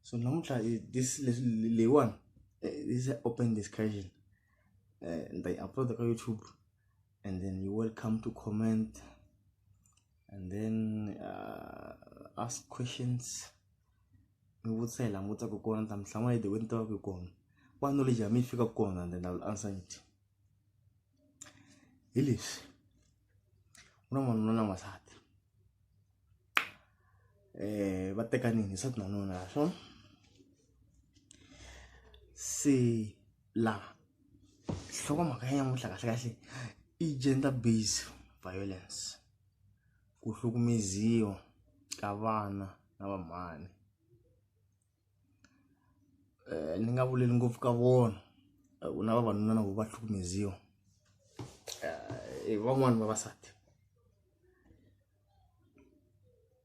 so namuntlha this leswi leyiwani eh, this is open discussion eh, ni ta yi upload ka youtube and then you welcome to comment and then uh, ask questions mi vutisa hi laha mi vutisaka kona ta mi hlamula hi the way ni tivaka hi kona wa knowledge ya mi yi fika kona and then i will answer it hi leswi un'wana n'wanuna na n'wansati va tekanile nsati na nuna ya swona se laha nhlokomhaka ya nyamuhla kahlekahle i gender based violence ku hlukumeziwa ka vana na vamhani. ni nga vuleli ngopfu ka vona ku na vavanuna na vo va hlukumeziwa i van'wani vavasati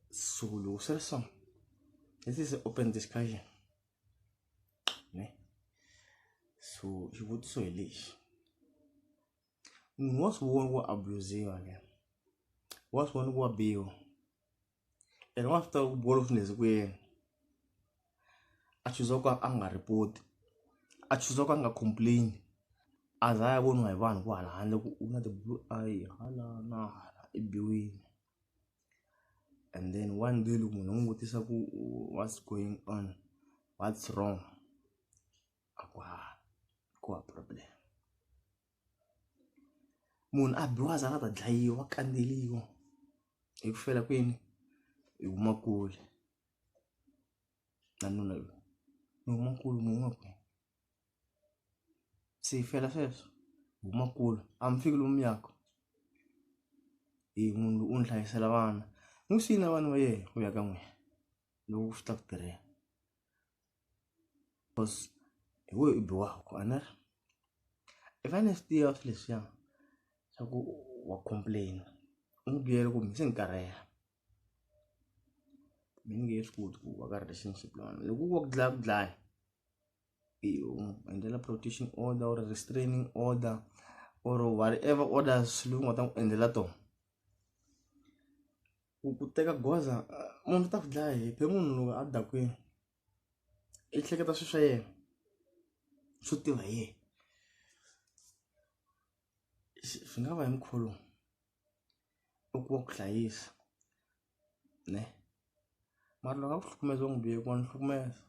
so loko swi ri so this is open discussion ne so xivutiso hi lexi munhu wa swi vona ku abusiwa ke wa swi vona ku wa biwa. eka wa swi tiva ku bolo swi nezi ku yena a chuza ku a nga report-i a chuza ku a nga complain a za a ya voniwa hi vanhu vo hala handle ku u na ti-blue eye hala na hala i biwile and then one day loko munhu u n'wi vutisa ku what's going on what's wrong a ku hava ku hava problem. munhu a biwa a za a ta dlayiwa a kandzeriwa hi ku fela kwini hi huma kule na nuna loyi ni huma kule ni huma kule se hi fela sweswo hi huma kule a mi fiki lomu yaka hi munhu loyi u ni hlayisela vana n'wi siyile na vana va yena ku ya ka n'wina loko swi ta ku tirhela Because hi wehe u biwaka a ni ri i fanele swi tiva swilo leswiya swa ku wa complain u n'wi byela ku se ni karhele me ni nge swi koti ku va ka relationship na wena loko ku va ku dlaya ku dlaya i u n'wi endlela protection order or restraining order or whatever orders leyi u nga ta n'wi endlela tona. ku ku teka goza munhu u ta ku dlaya hi phela munhu loko a dakwini i hleketa swilo swa yena swo tiva hi yena swi nga va hi mukhuva lowu u ku wa ku hlayisa ne mara loko a ku hlukumeza u n'wi bihe ku wa ni hlukumeza.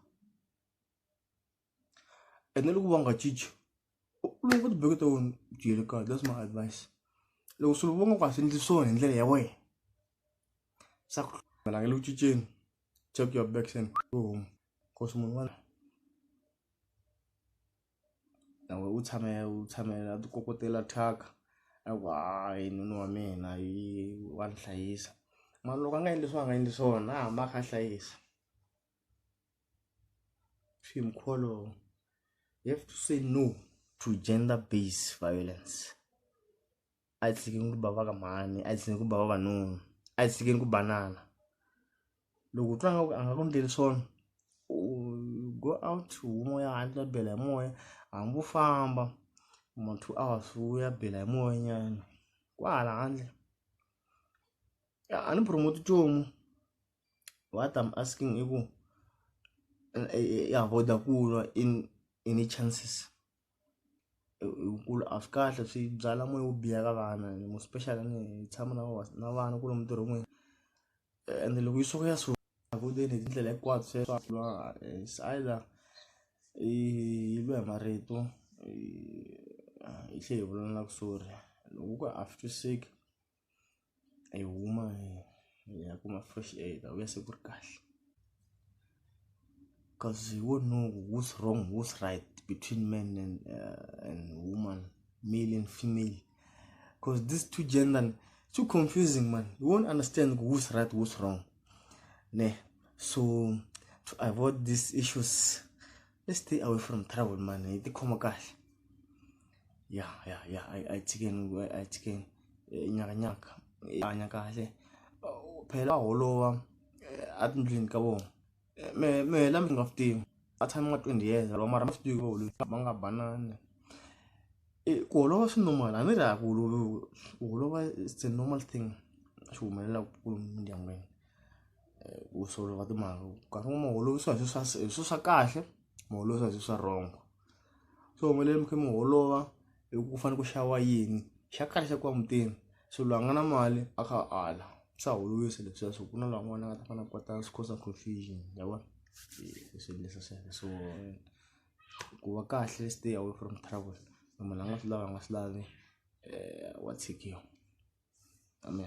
ene loko va nga cinci loko va tibeke ta wena byele kahle that's my advice loko swilo va nga ku a swi endli swona hi ndlela ya wena swa ku hlangana le ku cinceni check your backs and go home cause munhu wala nawe u tshame u tshamela a tikokotela thyaka a ku hayi nuna wa mina yi wa ni hlayisa mara loko a nga endli swona a nga endli swona a hamba a kha a hlayisa Shame Kholo. You have to say no to gender based violence. Ayisikeni ku bava ka mhani, ayisikeni ku bava vanuna, ayisikeni ku banana. Loko u twa nga ku a nga ku endleli swona u go out huma u ya handle u ya bela hi moya hambi u famba ma two hours u ya bela hi moya nyana kwahala handle a ni promote-i nchumu. what am asking i ku i avoid ku lwa in any chances hikuva a swi kahle swi byala moya wo biha ka vana more special ni tshama na vona na vana ku lomu ntirho n'wini ende loko yi suka ya so swakudeni hi tindlela hinkwato se swa lwa se either i lwe hi marito hi tlhela hi vulavula na ku sori loko ku a swi twisiseki. hi huma hi ya kuma fresh air hi ta vuya se ku ri kahle cause you won't know who's wrong who's right between men and, uh, and woman male and female cause these two gender too confusing man you won't understand who's right who's wrong ne so to avoid these issues let's stay away from trouble man hi tikhoma kahle ya ya ya ai ai chicken ai ai chicken eh, nyaka nyaka eh, hanya kahle Oh, phela aholowa eh, atindlini ka vona Eh, me me la mi nga swi tivi a tshami nga 20 years loko mara ma swi tivi volo ma nga banana Eh, ku holova swi normal a ni ri a ku holovi ku holova it's a normal thing swi humelela ku kulu mindyangwini Eh, ku solova timhaka nkarhi wun'we ma holovisa hi swilo swa hi swilo swa kahle ma holovisa hi swilo swa wrong so mi fanele mi kha mi holova hi ku fanele ku xava yini xa khale xa ku va mutini so loyi a nga na mali a kha a ala swa holovisa leswiya swa ku na laha un'wana a nga ta fanele a kota swi cause confusion ya vona hi swi endlisa so so ku va kahle stay away from trouble munhu a nga swi lavi a nga swi lavi wa tshikiwa amen.